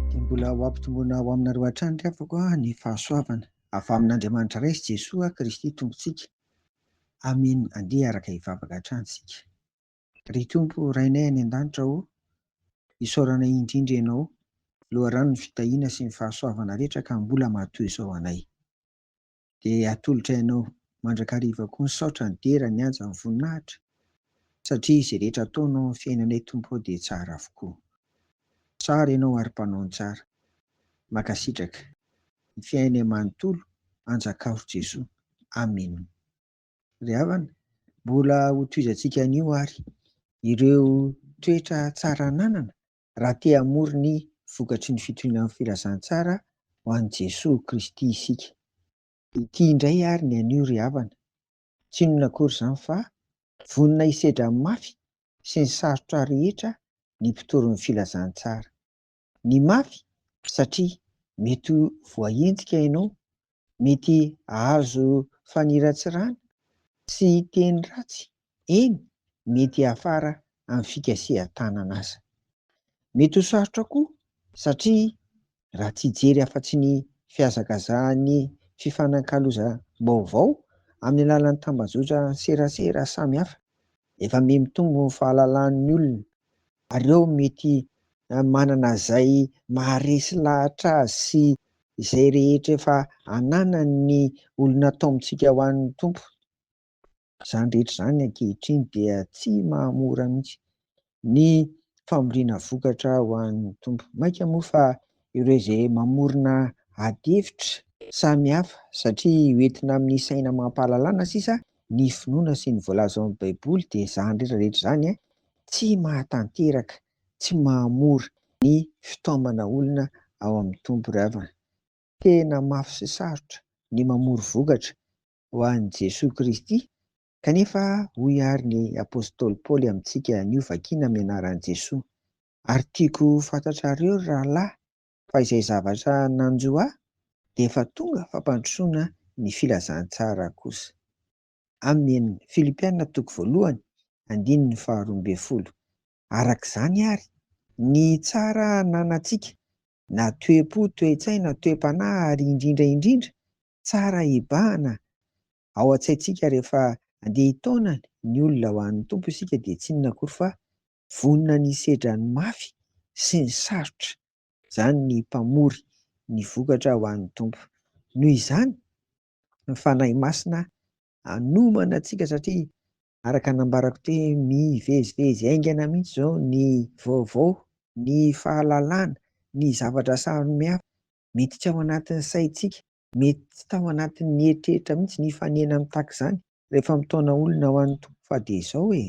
Dia mbola ho ampitomboina ho aminareo hatrany ry havako ny fahasoavana avy amin'Andriamanitra Ray sy Jesoa Kristy Tompontsika. Amen Andeha araka hivavaka hatrany isika. Ry Tompo Rainay any An-danitra ô, isaoranay indrindra Ianao, loharanon'ny fitahiana sy ny fahasoavana rehetra ka mbola matoy izao anay. de atolotra ianao mandrakariva koa misaotra ny dera ny haja ny voninahitra satria izay rehetra ataonao amin'ny fiainanay Tompo ô dia tsara avokoa tsara ianao ary mpanao ny tsara makasitraka ny fiainay manontolo anjakao ry Jesoa Amen ry havana mbola hotohizantsika anio ary ireo toetra tsara ananana raha te hamory ny vokatry ny fitorian'ny filazantsara ho an'i Jesoa Kristy isika. Ity indray ary ny anio ry havana, tsy inona akory izany fa vonona hisedra amin'ny mafy sy ny sarotra rehetra ny mpitory ny filazantsara. Ny mafy satria mety ho voahenjika ianao Mety hahazo faniratsirana sy teny ratsy, eny, mety hiafara amin'ny fikasihan-tanana aza. Mety ho sarotra koa satria raha tsy hijery afa-tsy ny fihazakazahan'ny fifanakalozam-baovao amin'ny alalan'ny tambajotra-serasera samihafa, efa miha mitombo ny fahalalan'ny olona Nareo mety manana izay maharesy lahatra azy sy izay rehetra efa ananan ny olona atao amintsika ho an ny Tompo. Izany rehetra izany ankehitriny dia tsy mahamora mihitsy ny famoriana vokatra ho an ny Tompo. Mainka moa fa ireo izay mamorona adihevitra samy hafa satria ho entina amin ny saina amam-pahalalana sisa ny finoana sy ny voalaza ao amin ny Baiboly dia izany rehetra rehetra izany tsy mahatanteraka, tsy mahamora ny fitaomana olona ao amin'ny Tompo ry havana. Tena mafy sy sarotra ny mamory vokatra ho an'i Jesoa Kristy, kanefa hoy àry ny apostoly Paoly amintsika anio vakina amin'ny anaran'i Jesoa, Ary tiako ho fantatrareo ry rahalahy fa izay zavatra nanjo ahy dia efa tonga fampandrosoana ny filazantsara kosa. Amin. Filipiana toko voalohany, andininy faharoa ambin'ny folo. Araka izany àry, ny tsara ananantsika, na toe-po, toe-tsaina, toe-panahy, ary indrindra indrindra, tsara hibahana, ao an-tsaintsika rehefa andeha hitaona ny olona ho an'ny Tompo isika dia tsy inona akory fa vonona ny hisedra ny mafy sy ny sarotra. Izany ny Mpamory ny vokatra ho an'ny Tompo. Noho izany, ny Fanahy Masina hanomana antsika satria araka nambarako teo hoe mivezivezy haingana mihitsy izao ny vaovao, ny fahalalana, ny zavatra samihafa. Mety tsy ao anatin'ny saintsika, mety tsy tao anatin'ny eritreritra mihitsy nifanena mitaky izany Rehefa mitaona olona ho an'ny Tompo fa dia izao e!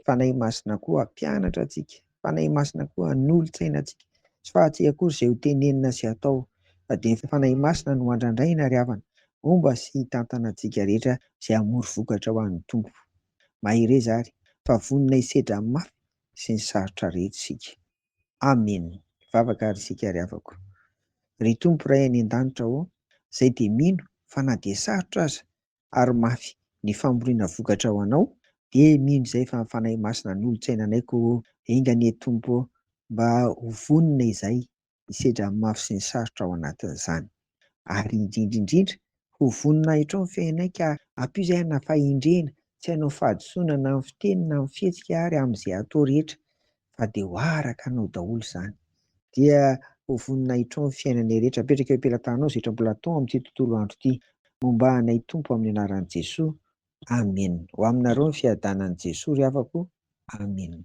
Fanahy Masina koa hampianatra antsika, Fanahy Masina koa hanolo-tsaina antsika. Tsy fahatsy akory izay ho tenenina sy hatao fa dia ny Fanahy Masina no andrandraina ry havana, homba sy hitantana antsika rehetra izay hamory vokatra ho an'ny Tompo. Mahereza ary fa vonona hisedra amin'ny mafy sy ny sarotra rehetra isika. Amen! Hivavaka ary isika ry havako. Ry Tompo Ray any an-danitra ô, izay dia mino fa na dia sarotra aza ary mafy ny famoriana vokatra ho anao dia mino izay fa ny Fanahy Masina anolotsainanay ko o! Enga anie Tompo o! Mba ho vonona izahay hisedra ny mafy sy ny sarotra ao anatin'izany. Ary indrindra indrindra ho vonona hahitrao ny fiainanay ka ampio izay hanafahindrena tsy hanao fahadisoana na amin'ny fiteny na amin'ny fihetsika ary amin'izay atao rehetra. fa dia ho araka anao daholo izany. Dia ho voninahitrao ny fiainanay rehetra. Apetraka eo am-pelatananao izay tra mbola atao amin'ity tontolo andro ity. Momba anay Tompo amin'ny anaran'i Jesoa. Amen. Ho aminareo ny fiadanan'i Jesoa ry havako. Amen.